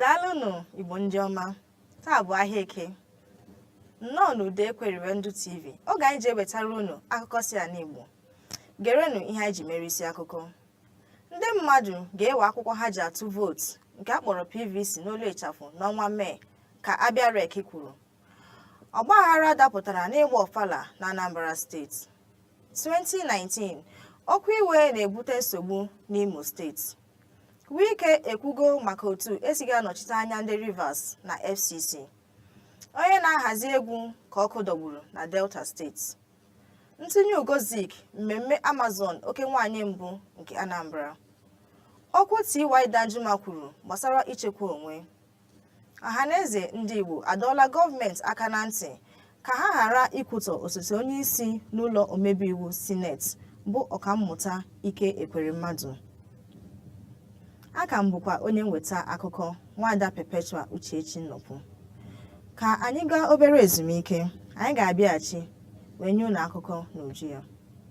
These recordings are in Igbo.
daalụnụ igbo ndị ọma taa bụ ahịa eke nnọọ n'ude ekweriwe ndụ tv oge anyị ji ewetara unu akụkọ si ala igbo gerenụ ihe anyị ji mere isi akụkọ ndị mmadụ ga-ewe akwụkwọ ha ji atụ vootu nke a kpọrọ pvc n'olu ịchafụ n'ọnwa mee ka abịa rec kwuru ọgbaghara dapụtara n'ịgba ọfala na anambra steeti 2019 okwu iwe na-ebute nsogbu n'Imo steeti Wike ekwugo maka otu esighị anọchite anya ndị Rivers na FCC onye na-ahazi egwu ka ọkụ dọgburu na Delta steeti ntụnye ugo zik mmemme Amazon oke nwanyị mbụ nke Anambra okwu TY Danjuma kwuru gbasara ichekwa onwe ọhaneze ndị Igbo adọọla gọọmenti aka na ntị ka ha ghara ikwutọ osote onye isi n'ụlọ omebe iwu sineti bụ ọkammụta Ike Ekweremadu aka m bụkwa onye mweta akụkọ nwaada Perpetua Uchechi Nnọpụ ka anyị gaa obere ezumike anyị ga-abịaghachi wee nye unu akụkọ n'uju ya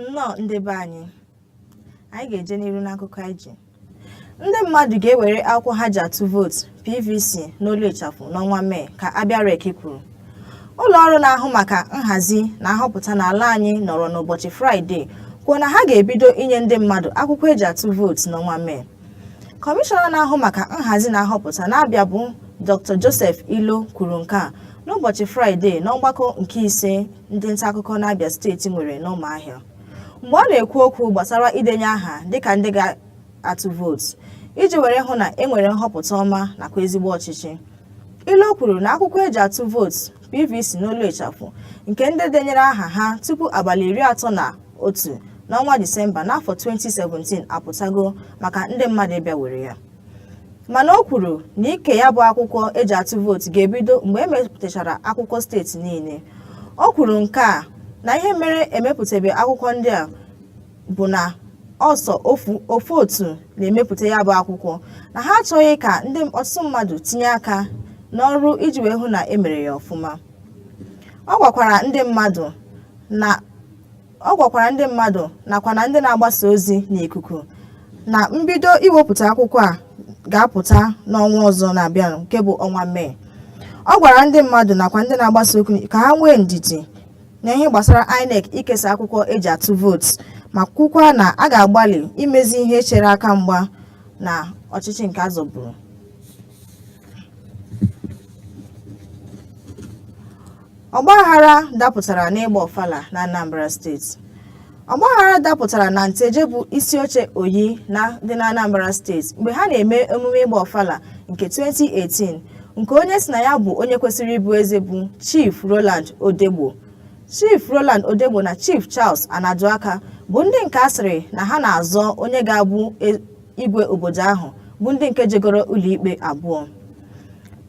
nnọọ ndị be anyị anyị ga-eje n'iru n'akụkọ anyị ji ndị mmadụ ga-ewere akwụkwọ ha ji atụ vootu pvc n'olu ịchafụ n'ọnwa mee ka abịa rec kwuru ụlọ ọrụ na-ahụ maka nhazi na nhọpụta n'ala anyị nọrọ n'ụbọchị fraịde kwuo na ha ga-ebido inye ndị mmadụ akwụkwọ eji atụ vootu n'ọnwa mee kọmishọna na-ahụ maka nhazi na nhọpụta n'abịa bụ dr joseph iloh kwuru nke a n'ụbọchị fraịde n'ọgbakọ nke ise ndị nta akụkọ n'abịa steeti nwere n'ụmụahịa mgbe ọ na-ekwu okwu gbasara idenye aha dịka ndị ga-atụ vootu iji were hụ na e nwere nhọpụta ọma nakwa ezigbo ọchịchị iloh kwuru na akwụkwọ eji atụ vootu pvc n'olu ịchafụ nke ndị denyere aha ha tupu abalị iri atọ na otu n'ọnwa disemba n'afọ 2017 apụtago maka ndị mmadụ ịbịa were ya mana o kwuru na ike ya bụ akwụkwọ eji atụ vootu ga-ebido mgbe emepụtachara akwụkwọ steeti niile o kwuru nke a na ihe mere emepụtabe akwụkwọ ndị a bụ na ọ sọ ofu otu na-emepụta ya bụ akwụkwọ na ha achọghị ka ndị ọtụtụ mmadụ tinye aka n'ọrụ iji wee hụ na emere ya ọfụma ọ gwakwara ndị mmadụ na Ọ gwakwara ndị mmadụ nakwa na ndị na-agbasa ozi n'ikuku na mbido iwepụta akwụkwọ a ga-apụta n'ọnwa ọzọ na-abịanụ nke bụ ọnwa Mee. Ọ gwara ndị mmadụ nakwa ndị na-agbasa okwu ka ha nwee ndidi na ihe gbasara INEC ikesa akwụkwọ eji atụ vootu ma kwukwa na a ga-agbalị imezi ihe chere aka mgba na ọchịchị nke azọburu. Ọgbaghara dapụtara n'ịgba ọfala na Anambra steeti. Ọgbaghara dapụtara na Nteje bụ isi oche Oyi na dị na Anambra steeti mgbe ha na-eme emume ịgba ọfala nke 2018 nke onye sị na ya bụ onye kwesịrị ịbụ eze bụ Chief Roland Odegbo. Chief Roland Odegbo na Chief Charles Anaduaka bụ ndị nke a sịrị na ha na-azọ onye ga-abụ igwe obodo ahụ bụ ndị nke jegoro ụlọikpe abụọ.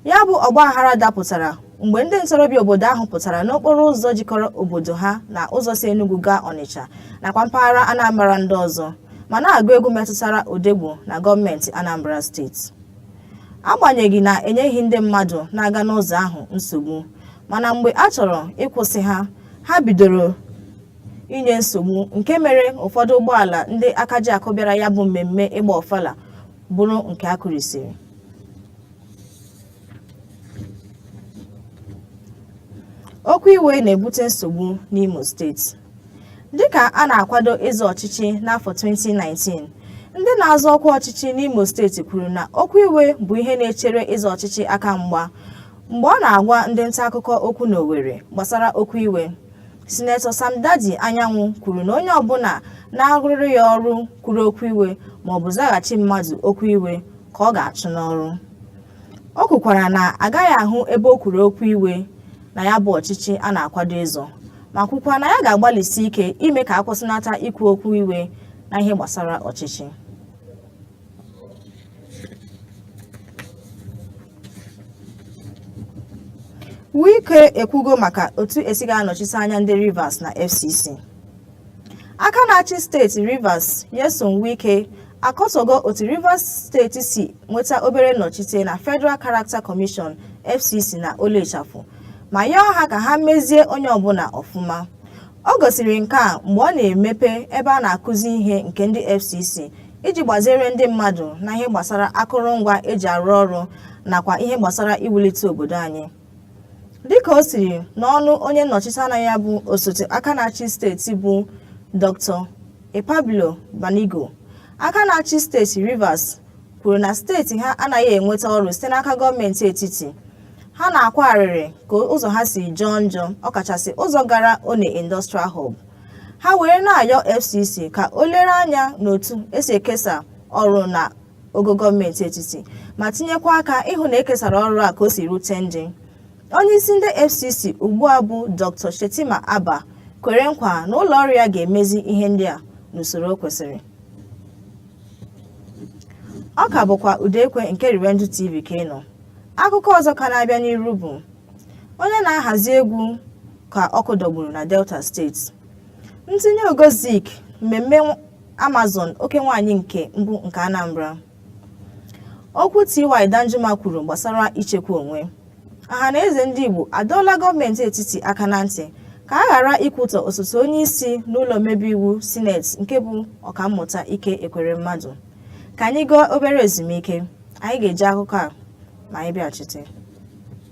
ya bụ ọgbaghara dapụtara mgbe ndị ntorobịa obodo ahụ pụtara n'okporo ụzọ jikọrọ obodo ha na ụzọ si Enugu gaa Ọnịcha nakwa mpaghara Anambra ndị ọzọ ma na-agụ egwu metụtara Odegbo na gọọmenti Anambra steeti agbanyeghị na enyeghị ndị mmadụ na-aga n'ụzọ ahụ nsogbu mana mgbe a chọrọ ịkwụsị ha ha bidoro inye nsogbu nke mere ụfọdụ ụgbọala ndị aka ji akụ bịara ya bụ mmemme ịgba ọfala bụrụ nke a kụrisiri Okwu iwe na-ebute nsogbu n'Imo steeti. Dịka a na-akwado ịzọ ọchịchị n'afọ 2019, ndị na-azọ ọkwa ọchịchị n'Imo steeti kwuru na okwu iwe bụ ihe na-echere ịzọ ọchịchị aka mgba mgbe ọ na-agwa ndị nta akụkọ okwu n'Owerri gbasara okwu iwe. Sinetọ Samdaddy Anyanwụ kwuru na onye ọbụla na-arụrụ ya ọrụ kwuru okwu iwe maọbụ zaghachi mmadụ okwu iwe ka ọ ga-achụ n'ọrụ. O kwukwara na agaghị ahụ ebe o kwuru okwu iwe na ya bụ ọchịchị a na-akwado ịzọ, ma kwukwa na ya ga-agbalịsi ike ime ka a kwụsịnata ikwu okwu iwe na ihe gbasara ọchịchị. Wike ekwugo maka otu esi ga-anọchite anya ndị Rivers na FCC. Aka na-achị steeti Rivers Nyesom Wike akọtọgo otu Rivers steeti si nweta obere nnọchite na Federal Character Commission FCC na Olu Ịchafụ ma yọọ ha ka ha mezie onye ọbụla ọfụma. O gosiri nke a mgbe ọ na-emepe ebe a na-akụzi ihe nke ndị FCC iji gbaziere ndị mmadụ na ihe gbasara akụrụngwa eji arụ ọrụ nakwa ihe gbasara iwulite obodo anyị. Dịka o siri n'ọnụ onye nnọchite anya ya bụ osote aka na-achị steeti bụ Dr. Epabilo Banigo, aka na-achị steeti Rivers kwuru na steeti ha anaghị enweta ọrụ site n'aka gọọmenti etiti ha na-akwa arịrị ka ụzọ ha si jọọ njọ ọkachasị ụzọ gara onne industrial hub ha were na-ayọ fcc ka o lere anya n'otu esi ekesa ọrụ na ogo gọọmenti etiti ma tinyekwa aka ịhụ na ekesara ọrụ a ka o si rute ndị onye isi ndị fcc ugbu a bụ dr shettima abba kwere nkwa na ụlọ ọrụ ya ga-emezi ihe ndị a n'usoro kwesịrị ọ ka bụkwa Ụda Ekwe nke Revenge TV ka ị nọ akụkọ ọzọ ka na-abịa n'iru bụ onye na-ahazi egwu ka ọkụ dọgburu na Delta steeti ntinye ugo Zik mmemme Amazon oke nwaanyị nke mbụ nke Anambra Okwu TY Danjuma kwuru gbasara ichekwa onwe. Ọhanaeze ndị Igbo adọọla gọọmenti etiti aka na ntị ka a ghara ikwutọ osote onye isi n'ụlọ omebe iwu Sineti nke bụ Ọkammụta Ike Ekweremmadụ. Ka anyị gaa obere ezumike, anyị ga-eji akụkọ a ma anyị bịachite.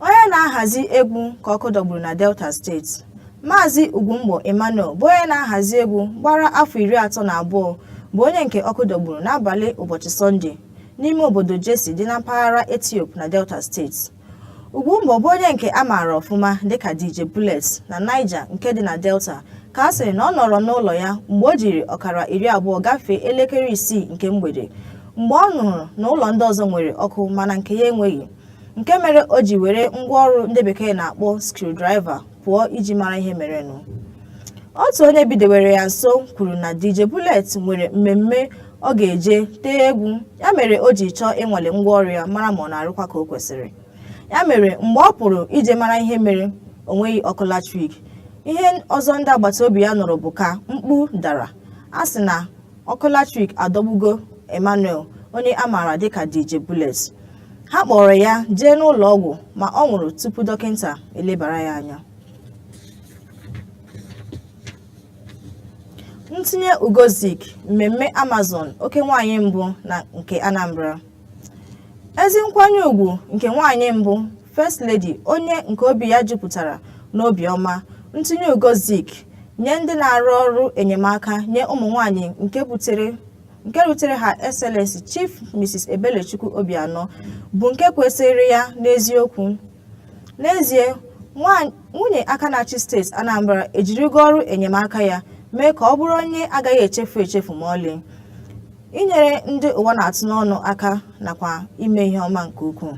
onye na-ahazi egwu ka ọkụ dọgburu na delta steeti maazị ugwumgbo emmanuel bụ onye na-ahazi egwu gbara afọ iri atọ na abụọ bụ onye nke ọkụ dọgburu n'abalị ụbọchị sọnde n'ime obodo jesse dị na mpaghara ethiope na delta steeti ugwumgbo bụ onye nke a maara ọfụma dịka dj bullet na niger nke dị na delta ka a sịrị na ọ nọrọ n'ụlọ ya mgbe o jiri ọkara iri abụọ gafee elekere isii nke mgbede mgbe ọ nụrụ na ụlọ ndị ọzọ nwere ọkụ mana nke ya enweghị nke mere o ji were ngwaọrụ ndị bekee na-akpọ screwdriver pụọ iji mara ihe merenụ otu onye bidewere ya nso kwuru na DJ Bullet nwere mmemme ọ ga-eje tee egwu ya mere o ji chọọ ịnwale ngwaọrụ ya mara ma ọ na-arụkwa ka o kwesịrị ya mere mgbe ọ pụrụ ije mara ihe mere o nweghị ọkụ latrik ihe ọzọ ndị agbata obi ya nụrụ bụ ka mkpu dara a sị na ọkụ latrik adọgbugo Emmanuel onye a maara dịka DJ Bullet ha kpọrọ ya jee n'ụlọ ọgwụ ma ọ nwụrụ tupu dọkịta elebara ya anya ntinye ugo Zik mmemme Amazon oke nwaanyị mbụ nke Anambra ezi nkwanye ugwu nke nwaanyị mbụ First Lady, onye nke obi ya jupụtara n'obiọma, ntụnye ugo Zik nye ndị na-arụ ọrụ enyemaka nye ụmụ nwanyị nke rutere Her Excellency Chief Mrs. Ebelechukwu Obianọ bụ nke kwesịrị ya n'eziokwu. N'ezie, nwunye aka na-achị steeti Anambra ejirigo ọrụ enyemaka ya mee ka ọ bụrụ onye agaghị echefu echefu ma ọlị, inyere ndị ụwa na-atụ n'ọnụ aka nakwa ime ihe ọma nke ukwuu.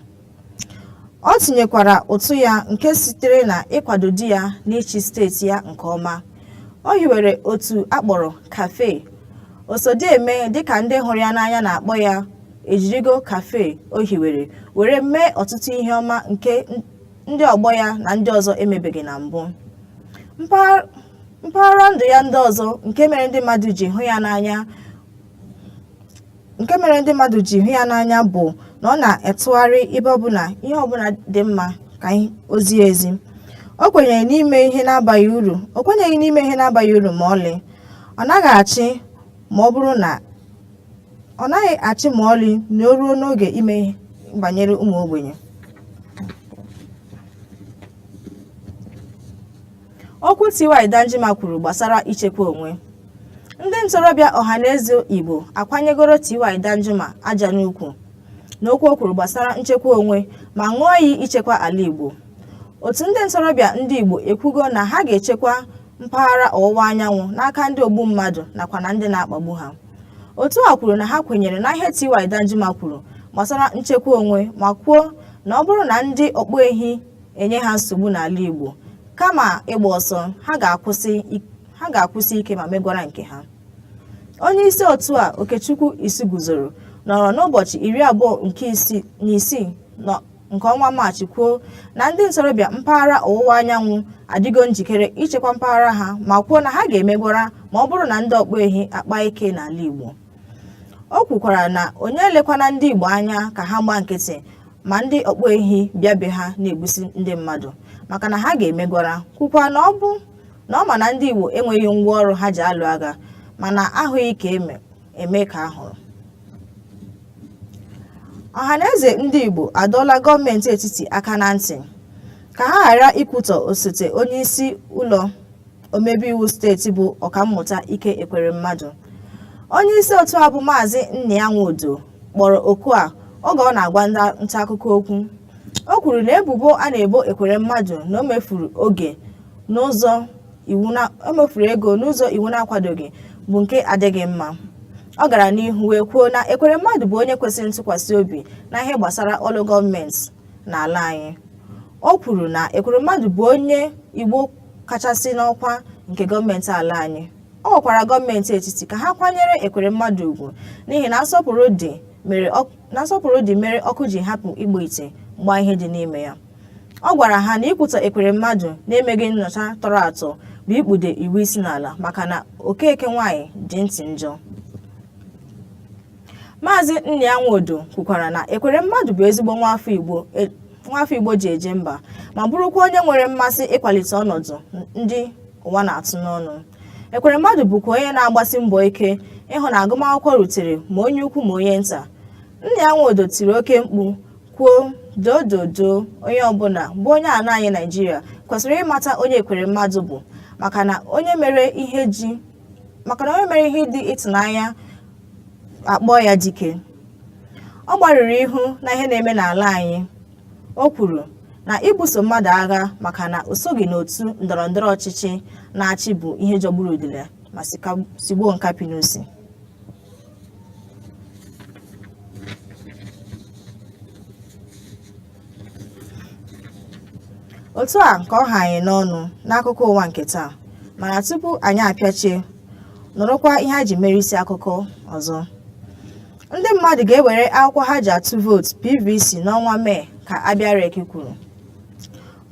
O tinyekwara ụtụ ya nke sitere na ịkwado di ya n'ịchị steeti ya nke ọma. O hiwere otu a kpọrọ CAFE. Osodieme dịka ndị hụrụ ya n'anya na-akpọ ya ejirigo CAFE o hiwere were mee ọtụtụ ihe ọma nke ndị ọgbọ ya na ndị ọzọ emebeghị na mbụ. Mpaghara ndụ ya ndị ọzọ nke mere ndị mmadụ ji hụ ya n'anya nke mere ndị mmadụ ji hụ ya n'anya bụ na ọ na-etụgharị ebe ọbụla ihe ọbụla dị mma ka o zie ezi o kwenyere n'ime ihe na-abaghị uru o kwenyeghị n'ime ihe na-abaghị uru ma ọlị ọ naghị achị ma ọ bụrụ na ọ naghị achị ma ọlị na o ruo n'oge ime banyere ụmụ ogbenye Okwu T.Y. Danjuma kwuru gbasara ichekwa onwe. Ndị ntorobịa Ọhaneze Igbo akwanyegoro T.Y. Danjuma aja n'ukwu n'okwu o kwuru gbasara nchekwa onwe ma ṅụọ iyi ichekwa ala Igbo. Otu ndị ntorobịa ndị Igbo ekwugo na ha ga-echekwa mpaghara ọwụwa anyanwụ n'aka ndị ogbu mmadụ nakwa na ndị na-akpagbu ha. Otu a kwuru na ha kwenyere na ihe T.Y. Danjuma kwuru gbasara nchekwa onwe ma kwuo na ọ bụrụ na ndị ọkpụ ehi enye ha nsogbu n'ala Igbo kama ịgba ọsọ ha ga-akwụsi ik- ha ga-akwụsi ike ma megwara nke ha onye isi otu a Okechukwu Isiguzoro nọrọ n'ụbọchị iri abụọ nke isii na isii nọ- nke ọnwa Maachị kwuo na ndị ntorobịa mpaghara ọwụwa anyanwụ adịgo njikere ichekwa mpaghara ha ma kwuo na ha ga-emegwara ma ọ bụrụ na ndị ọkpọ ehi akpa ike n'ala Igbo o kwukwara na onye elekwana ndị igbo anya ka ha gbaa nkịtị ma ndị ọkpọ ehi bịa be ha na-egbusi ndị mmadụ maka na ha ga-emegwara kwukwa na ọ bụ na ọ ma na ndị igbo enweghị ngwa ọrụ ha ji alụ agha mana ahụghị ka eme eme ka a hụrụ ọhaneze ndị igbo adọọla gọọmenti etiti aka na ntị ka ha ghara ikwutọ osote onye isi ụlọ omebe iwu steeti bụ ọkammụta ike ekweremmadụ onye isi otu a bụ maazị nnia nwodo kpọrọ oku a oge ọ na-agwa ndị nta akụkọ okwu o kwuru na ebubo a na-ebo ekweremmadụ na o mefuru oge n'ụzọ iwu na o mefuru ego n'ụzọ iwu na-akwadoghị bụ nke adịghị mma ọ gara n'ihu wee kwuo na ekweremmadụ bụ onye kwesịrị ntụkwasị obi na ihe gbasara ọrụ gọọmenti n'ala anyị o kwuru na ekweremmadụ bụ onye igbo kachasị n'ọkwa nke gọọmenti ala anyị ọ gwakwara gọọmenti etiti ka ha kwanyere ekweremmadụ ugwu n'ihi na nsọpụrụ dị mere ọk- na nsọpụrụ dị mere ọkụ ji hapụ ịgba ite gbaa ihe dị n'ime ya ọ gwara ha na ikwutọ ekweremmadụ na-emeghị nnyocha tọrọ atọ bụ ikpude iwu isi n'ala maka na okeke nwaanyị dị ntị njọ Maazị Nnia Nwodo kwukwara na Ekweremmadụ bụ ezigbo nwaafọ Igbo e, nwaafọ Igbo ji eje mba ma bụrụkwa onye nwere mmasị ịkwalite ọnọdụ ndị ụwa na-atụ n'ọnụ Ekweremmadụ bụkwa onye na-agbasi mbọ ike ịhụ na agụmakwụkwọ rutere ma onye ukwu ma onye nta Nnia Nwodo tiri oke mkpu kwuo dododo onye ọbụla bụ onye ala anyị Naịjirịa kwesịrị ịmata onye Ekweremmadụ bụ maka na onye mere ihe ji maka na onye mere ihe dị ịtụnanya akpọọ ya dike ọ gbarụrụ ihu na ihe na-eme n'ala anyị o kwuru na ibuso mmadụ agha maka na o soghị n'otu ndọrọ ndọrọ ọchịchị na-achị bụ ihe jọgburu udele ma sigbuo nkapị n'isi otu a ka ọ ha anyị n'ọnụ n'akụkọ ụwa nke taa mana tupu anyị apịachie nụrụkwa ihe a ji mere isi akụkọ ọzọ ndị mmadụ ga-ewere akwụkwọ ha ji atụ vootu pvc n'ọnwa mee ka abịa rec kwuru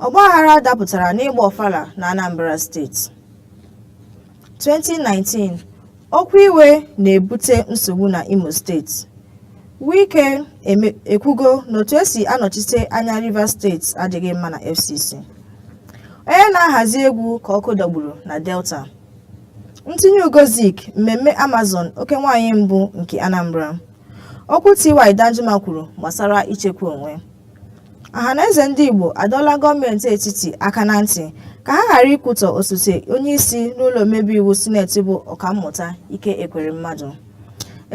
ọgbaghara dapụtara n'ịgba ọfala na anambra steeti 2019 okwu iwe na-ebute nsogbu na Imo steeti Wike ekwugo na otu e si anọchite anya Rivers steeti adịghị mma na FCC onye na-ahazi egwu ka ọkụ dọgburu na Delta ntinye ugo Zik mmemme Amazon oke nwaanyị mbụ nke Anambra okwu TY Danjuma kwuru gbasara ichekwa onwe Ọhanaeze ndị Igbo adọọla gọọmenti etiti aka na ntị ka ha ghara ikwutọ osote onyeisi n'ụlọ omebe iwu sineti bụ Ọkammụta Ike Ekweremmadụ.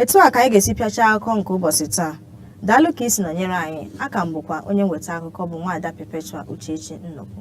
Etu a ka anyị ga-esi pịachaa akụkọ nke ụbọchị taa. Daalụ ka i si nọnyere anyị, aka m bụkwa onye mweta akụkọ bụ Nwaada Perpetua Uchechi Nnukwu.